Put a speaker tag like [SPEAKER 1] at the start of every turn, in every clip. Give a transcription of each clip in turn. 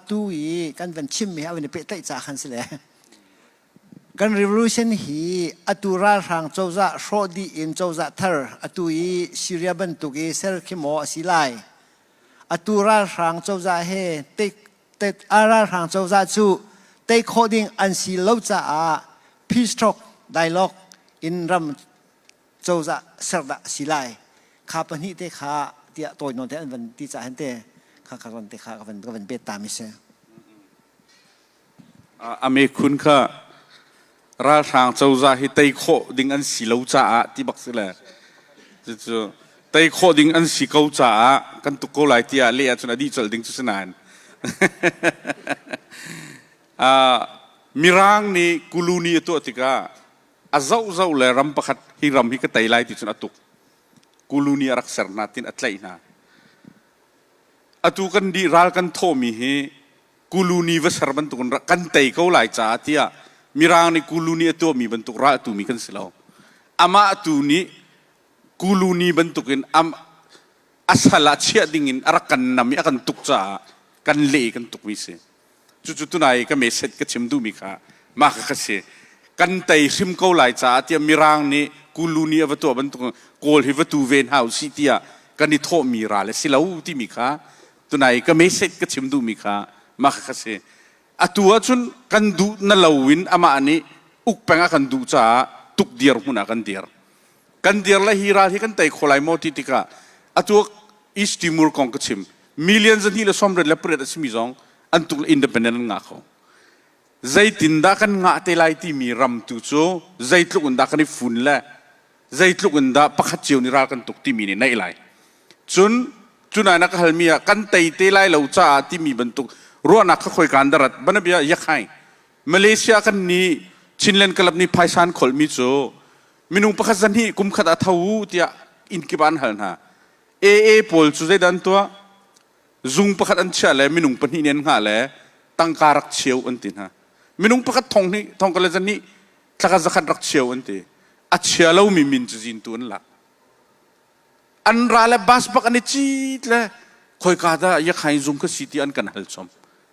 [SPEAKER 1] tu i kan van chimmi a van i pehtlaih ca khan si le kan revolution hi atu ralhrang cozah hrawh dih in cozah thar atu i Syria bantuk i ser khimaw a si lai atu ralhrang cozah he tei ralhrang cozah cu tei khawh ding an si lo caah peace talk dialogue in ram cozah ser dah a si lai kha pahnih te kha tiah tawi nawn te an van ti cah hen te kha ka ron te kha ka van ka van bet ta mi se
[SPEAKER 2] ame khun kha ralhrang cozah hi tei khawh ding an si lo caah ti bak si le cucu tei khawh ding an si ko caah kan tuk ko lai tiah le ahcun adi col ding cu sinan mirang nih kuluni a tuah tikah a zoh zoh le ram pakhat hi ram hi ka tei lai ti cun a tuk kuluni a rak ser hna tin a tlaih hna atu kan dih ral kan thawhmi hi kuluni va ser bantukin kan tei ko lai caah tiah mirang nih kuluni a tuahmi bantuk ral tu mi kan si lo amah tu nih kuluni bantukin am a sal ah chiah dingin a rak kan nam i a kan tuk caah kan leh kan tuk mi si cucu tunai i ka message ka chim duhmi kha mah kha ka si kan tei hrim ko lai caah tiah mirang nih kulu nih a va tuah bantuk kawl hi va tu ve hna usih tiah kan i thawhmi ral a si lo timi kha tunai ka message ka chim duhmi kha mah kha ka si atu ahcun kan duh na lo in amah nih uk peng a kan duh caah tuk dir hmun ah kan dir kan dir le hi ral hi kan tei kho lai maw ti tikah atu East Timor kong ka chim million zahnih le sawm le pariat a simi zong an tuk independent an ngah kho zeitindah kan ngah te lai timi ram tu cu zeitluk in dah kan i fun le zeitluk in dah pakhat cio nih ral kan tuk timi nih naih lai cun cunai na ka halmi ah kan tei te lai lo caah timi bantuk ruahnak kha khoi kan darat banabia yakhai Malaysia kan nih Chinland Club nih phaisan kholmi cu minung pakhat zan hi kum khat a tho tiah inn kip ah an hal hna. AA pawl cu zeidah an tuah? Zung pakhat an chiah le minung pahnih nih an hngah le tangka rak cheu an ti hna. Minung pakhat thong nih thongka le zan nih thlakhat zakhat rak cheu an ti. A chia lomi min cu zintu an lak. an ra le bus bak an i cit le khoika dah yakhain zung ka si ti an kan hal chom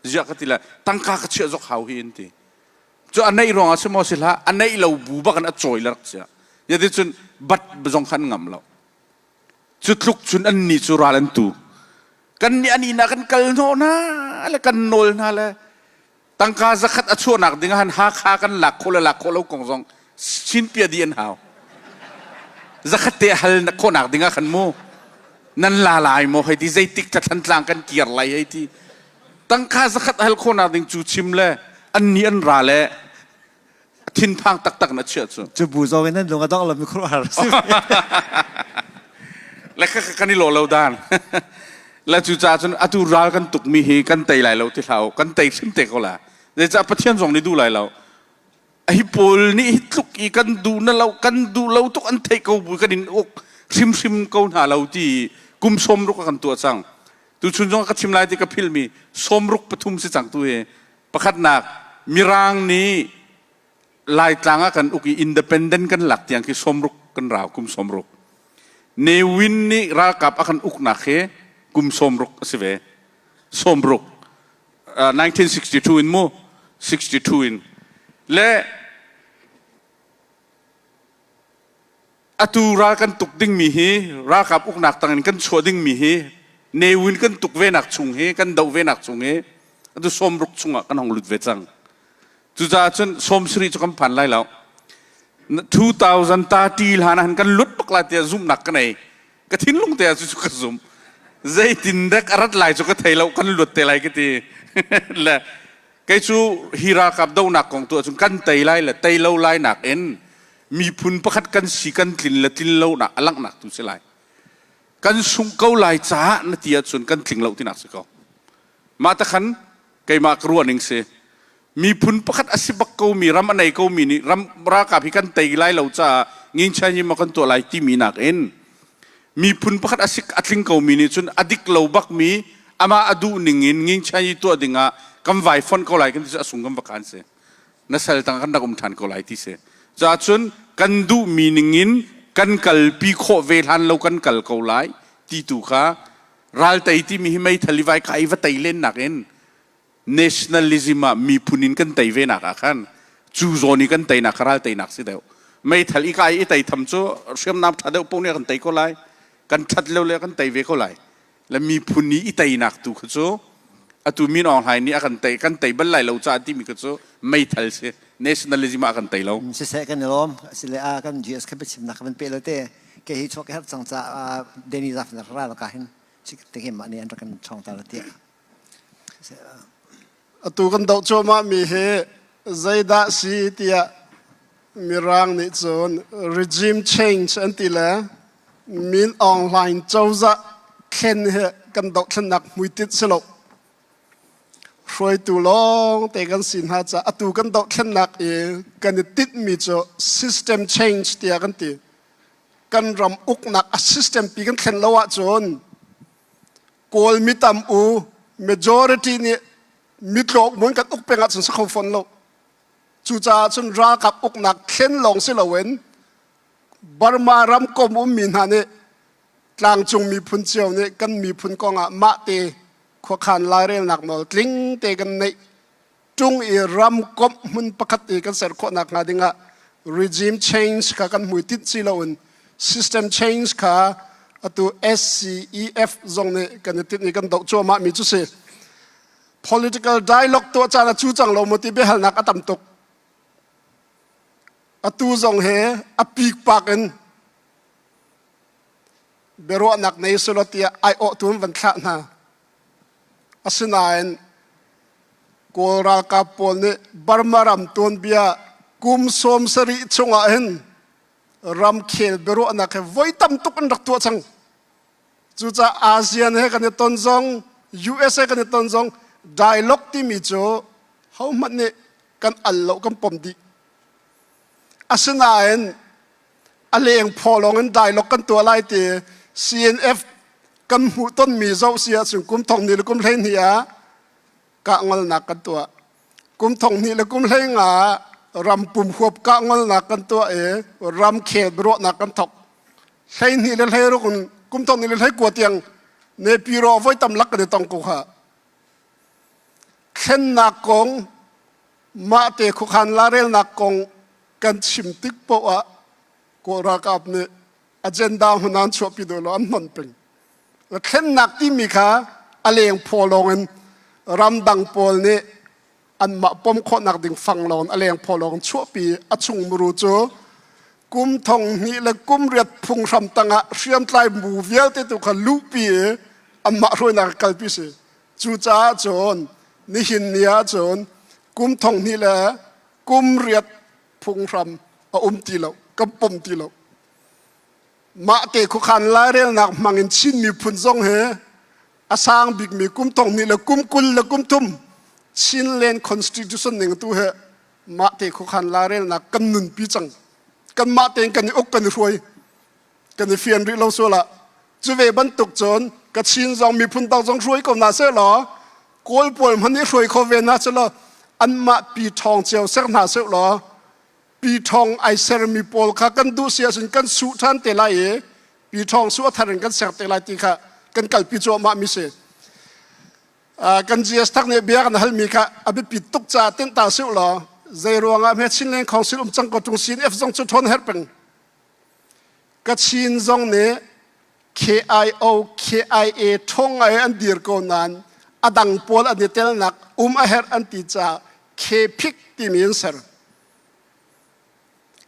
[SPEAKER 2] ziah ka ti le tangka ka chiah zok hau hi in ti cu a neih ruang ah si maw si hlah a neih lo bu bak an a cawi larak cia yati cun bat zong khan ngam lo cu tluk cun an ni cu ral an tu kan nih an ina kan kal no na le kan nawl na le tangka zakhat a chuahnak ding ahhan Hakha kan lak khawh le lak khawh lo kong zong chin pia di an hau zakhat te hal khawhnak ding ah khan mu nan la lai maw hei ti zeitik ca thlantlang kan kir lai hei ti tangka zakhat hal khawhnak ding cu chim le an ni an ra le thinphang taktak na chia cu cu bu zo in nan lung adong
[SPEAKER 1] lam khur har
[SPEAKER 2] le kha kan i lo lo dan la cu cha cun atu ral kan tuk mi hi kan tei lai lo ti hlau kan tei hrim te ko la zeicah pathian zong nih duh lai lo a hi paul nih hi tluk i kan duh na lo kan duh lo tuk an thei ko bu kan in uk hrim hrim ko hna lo ti kum som ruk kan tua cang tu chun zong ka chim lai ti ka phil mi som ruk pathum si cang tu hi Pakhatnak, Mirang nih Laitlang ah kan uk i independent kan lak tiang khi sawmruk kan rau, kum sawmruk. Ne Win nih ralkap a kan uknak hi kum sawmruk a si ve. Sawmruk. Uh, 1962 in mu, 62 in. Le atu ral kan tuk dingmi hi ralkap uknak tangin kan chuah dingmi hi newin kan tuk ve nak chung hi kan doh ve nak chung hi atu sawm ruk chungah kan hong lut ve cang cucaah cun sawm sari cu kan phan lai lo 2030 hlan han kan lut tuk lai tiah zumhnak ka nei ka thinlung te ah cu ka zumh zeitin dek arat lai cu ka thei lo kan lut te lai ka ti le kei cu hi ralkap donak kong tu ahcun kan tei lai le tei lo lai nak in miphun pakhat kan si kan tlin le tlin lonak a langhnak tu si lai kan sung ko lai caah na ti ahcun kan tling lo tinak si ko mah ta khan keimah ka ruah ning si miphun pakhat a si bak komi ram a nei komi nih ram ralkap hi kan tei lai lo caah ngin chan yima kan tuah lai timi nak in miphun pakhat a si a tling komi nih cun a dik lo bakmi amah a duh ning in ngin chan yi tuah dingah kan vai fon ko lai kan ti cu a sung kan va kan si na sal tang kan rak um ṭhan ko lai ti si caah cun kan duhmi ningin kan kalpi khawh ve hlan lo kan kal ko lai ti tu kha raltei timi hi meithal i vai ka i va tei len nakin nationalism ah miphun in kan tei ve nak ah khan cu zawn i kan tei nak ral tei nak si deuh meithal i kai i tei tham cu hriamnam ṭha deuh pung ne kan tei ko lai kan ṭhat lo le kan tei ve ko lai le miphun i i teinak tu kha cu atu min Aung Hlain nih a kan tei kan tei bal lai lo caah timi kha cu meithal si nationalism ah a kan tei lo siseh kan i lawm asile
[SPEAKER 1] ah kan GS kha biachimnak kan pe lo te ke hi chawk herh cang caah Deni Zafner ralkah hin tikimah nih an rak kan ṭhawngter tiah
[SPEAKER 3] atu kan doh cuahmahmi hi zeidah si tiah mirang nih cun regime change an ti le min aung hlaing cozah thlen hi kan dohthlennak hmuitit si lo hruaitu lawng te kan si hna ca atu kan dohthlennak i kan i titmi cu system change tiah kan ti kan ram uknak a system pi kan thlen lo ahcun Kawlmi tam u majority nih mitlawk mun kan uk peng ah cun sa kho fawn lo. Cucaah cun ralkap uknak thlen lawng si loin Burma ramkom ummi hna nih tlangcung miphun cio nih kan miphun kong ah mahte khuakhan lairelnak nawl tling te kan neih tung i ramkomh hmun pakhat i kan ser khawh nak hnga dingah regime change kha kan hmui tinh si loin system change kha atu SCEF zong nih kan i tinh i kan doh cuahmah mi cu si political dialogue tuah caan a cu cang lo mu ti biahalnak a tam tuk atu zong he a pik pak in biaruahnak nei silo tiah ai awh tu van thlah hna Asinain Kawl ralkap pawl nih Burma ram tuanbia kum sawm sarih chungah hin ramkhel biaruahnak he voi tam tuk an rak tuah cang. Cucaah ASEAN he kan i ton zong, USA kan i ton zong dialogue timi cu hohmanh nih kan al lo kan pom dih. Asinain a lengphaw lawng in dialogue kan tuah lai ti CNF kan hmuh tonmi zoh si ahcun kum thong ni le kum hlei hnih ah kah ngolnak kan tuah kum thong hnih le kum hlei nga ram pum huap kah ngolnak kan tuah i ram khen ruahnak kan thok hlei hnih le hlei ruk in kum thong ni le hlei kua tiang nepi ro voi tam lak kan i tong ko kha thlennak kong mahte khuakhan larelnak kong kan chim tik poah Kawl ralkap nih agenda hunan chuahpi dawh lo an hnon peng. Thlennak timi kha a leng phaw lawngin ramdang pawl nih anmah pom khawhnak ding fang lawng a leng phaw lawng chuahpi a chung muru cu kum thong hnih le kum riat phung hram tangah hriamtlai mu vialte tu kha luhpi i anmah hruainak kalpi si. Cucaah cun nihin ni ahcun kum thonghnih le kum riat phunghram a um ti lo, kan pom ti lo. Mahte khuakhan lairelnak hmangin Chin miphun zong he a sang bikmi kum thonghnih le kum kul le kum thum Chinland Constitution ning tu he mahte khuakhan lairelnak kan nunpi cang. Kan mah tein kan i uk kan i hruai. kan i fian rih lo sual ah cu ve bantuk cun ka chin zong miphun tang zong hruai ko na seh law kawl pual hman i hruai kho ve na seh law anmah pi ṭhawng cio ser hna seh law pi ṭhawng ai sermi pawl kha kan duh si ahcun kan su ṭhan te lai i pi ṭhawng su a thar in kan ser te lai ti kha kan kalpi cuahmah mi si kan GS thak nih bia kan halmi kha a biapit tuk caah tinh ta seh law zei ruangah hme Chinland Council um cang ko ṭung sin F zong cu ṭhawn her peng Kachin zong nih KIO KIA ṭhawng ngai an dir ko nain a dang pawl an i telnak um a herh an ti caah KPIC timi an ser.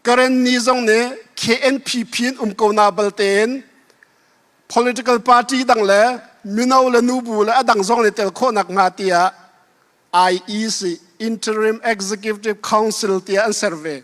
[SPEAKER 3] Karen ni zong nih KNPP in um ko na balte in political party dang le mino le nubu le a dang zong nih tel khawhnak hnga tiah IEC Interim Executive Council tiah an ser ve.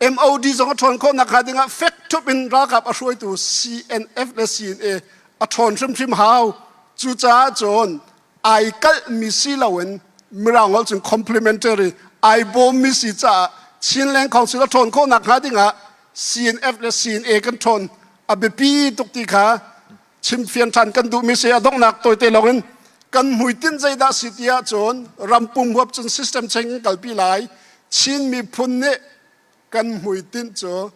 [SPEAKER 3] MOD zong a ṭhawn khawhnak hnga dingah fek thup in ralkap a hruaitu CNF le CNA a ṭhawn hrimhrim hau. Cucaah cun ai kalhmi si loin Mirang holh cun complimentary ai bawmmi si caah Chinland Council a ṭhawn khawhnak hnga dingah CNF le CNA kan ṭhawn a biapi tuk ti kha chim fian ṭhan kan duhmi si a donghnak tawite lawngin kan hmuitinh zeidah si ti ahcun rampung huap cun system cheng in kalpi lai Chin miphun nih kan hmuitinh cu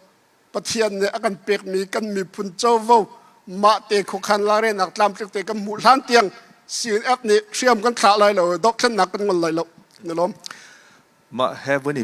[SPEAKER 3] Pathian nih a kan pekmi kan miphun covo mahte khuakhan
[SPEAKER 4] larenak tlamtlik te kan hmuh hlan tiang CNF nih hriam kan thlah lai lo dohthlennak kan ngol lai lo na lawm Mah he vun i